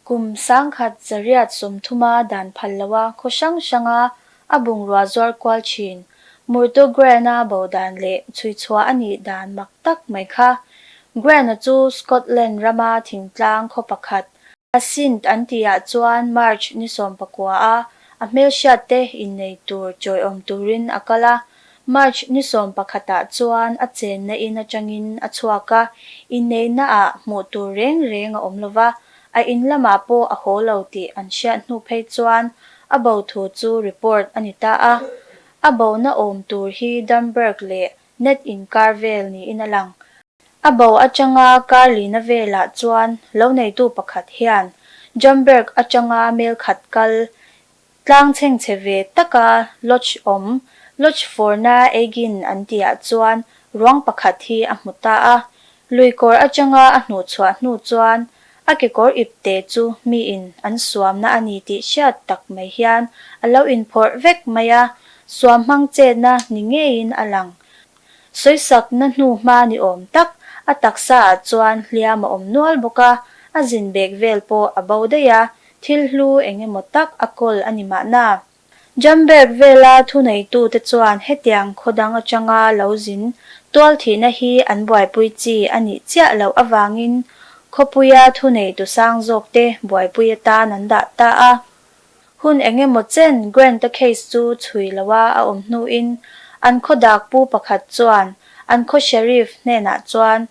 Kum sangkhat Zariat sawmthuma dan phal loha khaw hrang hranga a bungrua zuar kual thin, Murto Grana bo dan leh chhuichhuah a nih dan mak tak mai kha. Grana chu Scotland rama thingtlang khaw pakhat, a Sindh an tihah chuan March ni sawmpakua a a hmelhriatte innei tur chawiawm turin a kal a, March ni sawm pakhatah chuan a chenna in atangin a chhuak a, inneihna ah hmuh tur reng reng a awm lo va, a in lamah pawh a haw lo tih an hriat hnu phei chuan a bo thu chu report a ni ta a. A bo na awm tur hi Damberg leh Ned in kar vel niin a lang. A bo atanga kar lina velah chuan lo neitu pakhat hian Damberg atanga mel khat kal Tlang chheng chhe ve taka lodge awm, lodge fawrna eigin an tihah chuan ruang pakhat hi a hmu ta a, lui kawr atanga a hnuh chhuah hnu chuan a kekawr ip te chu miin an suamna a ni tih hriat tak mai hian a lo inphawrh vek mai a, suam hmang chetna ni ngeiin a lang. Sawisakna hnu hma ni awm tak, a taksa ah chuan hliam a awm nual bawk a, a zin bek vel pawh a bo daih a, thil hlu eng emaw tak a kawl a ni mahna. Jam bek vela thuneitu te chuan hetiang khaw dang atanga lo zin tual thihna hi an buaipui chi a nih chiah loh avangin khawpuia thuneitu sang zawk te buaipui atan an dah ta a, Hun eng emaw chen Grant-a case chu chhui lo a a awm hnuin an khaw dak pu pakhat chuan an khaw Sheriff hnenah chuan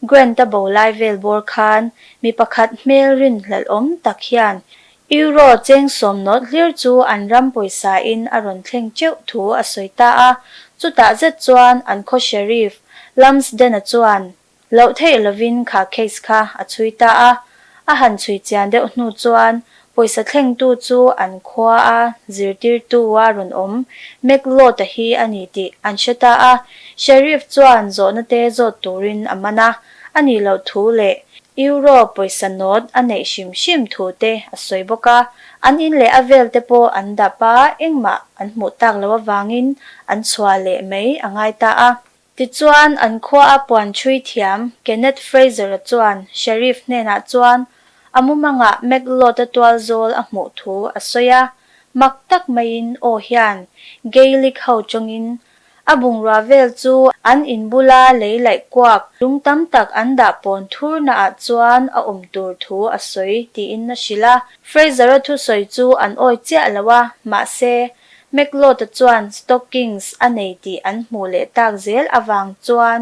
Grant-a bo lai vel bawr khan mi pakhat hmel rinhlelh awm tak hian Euro cheng sawm nawlh hlir chu an ram pawisa in a rawn thleng teuh thu a sawi ta a. Chutah zet chuan an khaw Sheriff, Lumsden-a chuan Loh theih lovin kha case kha a chhui ta a, a han chhui chian deuh hnu chuan pawisa thlengtu chu an khua a zirtirtu a rawn awm mek lawt a hi a ni tih an hre ta a, Sheriff chuan zawhna te zawt turin a man a, a nih loh thu leh Euro pawisa nawt a neih hrim hrim thu te a sawi bawk a, an in leh a vel te pawh an dap a, engmah an hmuh tak loh avangin an chhuah leh mai a ngai ta a. Tichuan, an khuaa puan ṭhui thiam Kenneth Fraser-a chuan Sheriff hnenah chuan a mumangah Macleod-a tual zawl a hmuh thu a sawi a, mak tak maiin aw hian Gaelic ho ṭawngin a bungrua vel chu an in bula lei laih kuak lung tam tak an dah pawn thurnaah chuan a awm tur thu a sawi tiin a hrilh a. Fraser-a thusawi chu an awi chiah lo a, mahse, McLeod-a chuan stockings a nei tih an hmuh leh tak zel avang chuan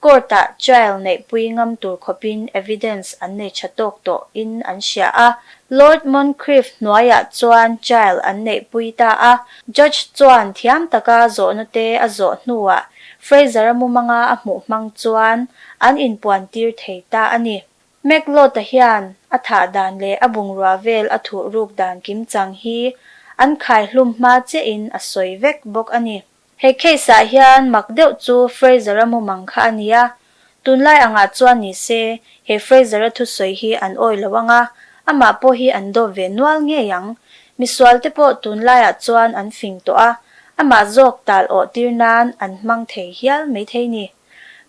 court-ah trial neihpui ngam tur khawpin evidence an nei tha tawk tawh in an hria a. Lord Moncrieff hnuaiah chuan trial an neihpui ta a, judge chuan thiam taka zawhnawte a zawh hnuah Fraser-a mumanga a hmuh hmang chuan an inpuantir thei ta a ni. McLeod-a hian a thah dan leh a bungrua vel a thuh ruk dan kim chang hi an khai hlum hma che in a sawi vek bawk a ni. He case-ah hian mak deuh chu Fraser-a mumang kha a ni a, tunlai angah chuan ni se, he Fraser-a thusawi hi an awi lo ang a, amah pawh hi an dawp ve nual ngei ang. Misualte pawh tunlaiah chuan an fing tawh a, amah zawk tal awh tir nan an hmang thei hial mai thei ni.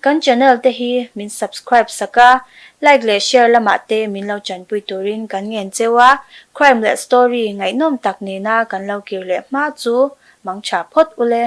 Kan channel te hi min subscribe sak a, like leh share lamah te min lo chanpui turin kan ngen cheu a, crime leh story ngaihnawm tak nena kan lo kir leh hma chu mangtha phawt ule.